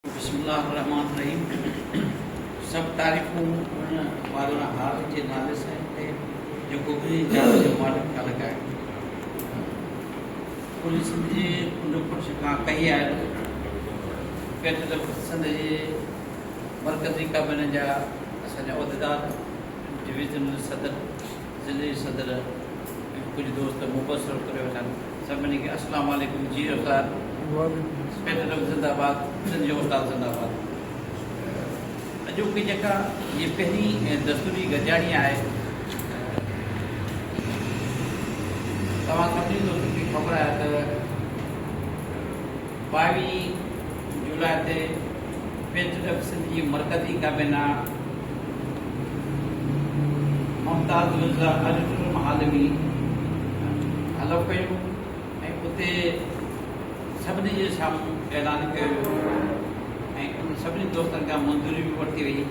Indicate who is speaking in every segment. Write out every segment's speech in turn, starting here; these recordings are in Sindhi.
Speaker 1: بسم الله الرحمٰن الرحيم سڀ تعريفون ان پالڻهار جي نالي سائين تي جيڪو انهي جاء جو مالڪ ٿا لڳائين ڪلهه سنڌ جي ان پرش کان ڪهي آيل پيٽ ته سنڌ جي مرڪزي ڪابينا جا اسان جا عهديدار ڊويزنل صدر ضلعي صدر ۽ ڪجهه دوست مبصرو ڪري وٺن سڀني کي اسلام عليڪم جي اوتار اسپيٽرم زنده باد سنڌ جو استاد زنده باد اڄوڪي جيڪا هي پهرين دستوري گڏجاڻي آهي توهان سڀني دوستن کي خبر آهي ته ٻاويهه جولاء تي پي ٽي ايف سنڌ جي مرڪزي ڪابينا ممتاز مرزا آڊيٽوريم هال ۾ حلف کنيو ۽ اتي سڀني جي سامهون اعلان ڪيو ويو ۽ انهن سڀني دوستن کان منظوري به ورتي وئي.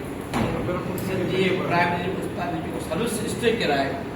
Speaker 1: سنڌ جي پرائمري استاد جيڪو سروس اسٽرڪچر آهي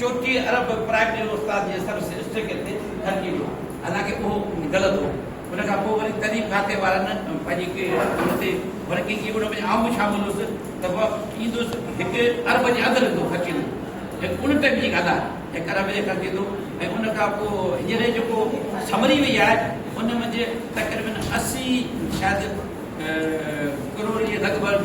Speaker 1: چوٿي عرب پرائمري ۾ استاد جي سب سيمسٽرڪيٽ تي ڦرڪي ويو حالانڪه اهو غلط هو ان کان پوء وري تعليم کاتي وارن پنهنجي ڪي ان تي ڀرڪي ڪئي ان ۾ آئون به شامل هوس ته مان ايندس هڪ عرب جي اڌ رڌو خرچ ايندو هيء ان ٽائيم جي ڳالهه آهي هڪ عرب جي خرچ ايندو ۽ ان کان پوء هينئر جيڪو سمري وئي آهي ان منجهه تقريبن اسي شايد ڪروڙ جي لڳ ڀڳ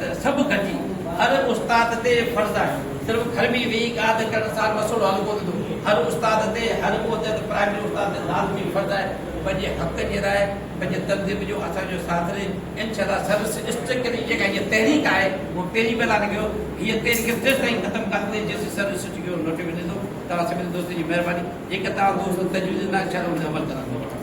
Speaker 1: ته سڀ ڪجي هر استاد تي فرض آهي صرف گهر ۾ ويهي قاعده ڪرڻ سان مسئلو حل ڪونه ٿيندو هر استاد تي هر ڪو چئي ته پرائمري استاد تي لازمي فرض آهي پنهنجي حق جي لاء پنهنجي تنظيم جو اسان جو ساٿ ڏي انشاء الله سروس اسٽرڪ جي جيڪا هيء تحريڪ آهي اهو پهرين به اعلان ڪيو هيء تحريڪ تيستائين ختم ڪانه ٿيندي جيستائين سروس اسٽرڪ جو نوٽيو نه ٿيندو توهان سڀني دوستن جي مهرباني جيڪا توهان دوست تجويز ڏنا انشاء الله ان تي عمل ڪنداسين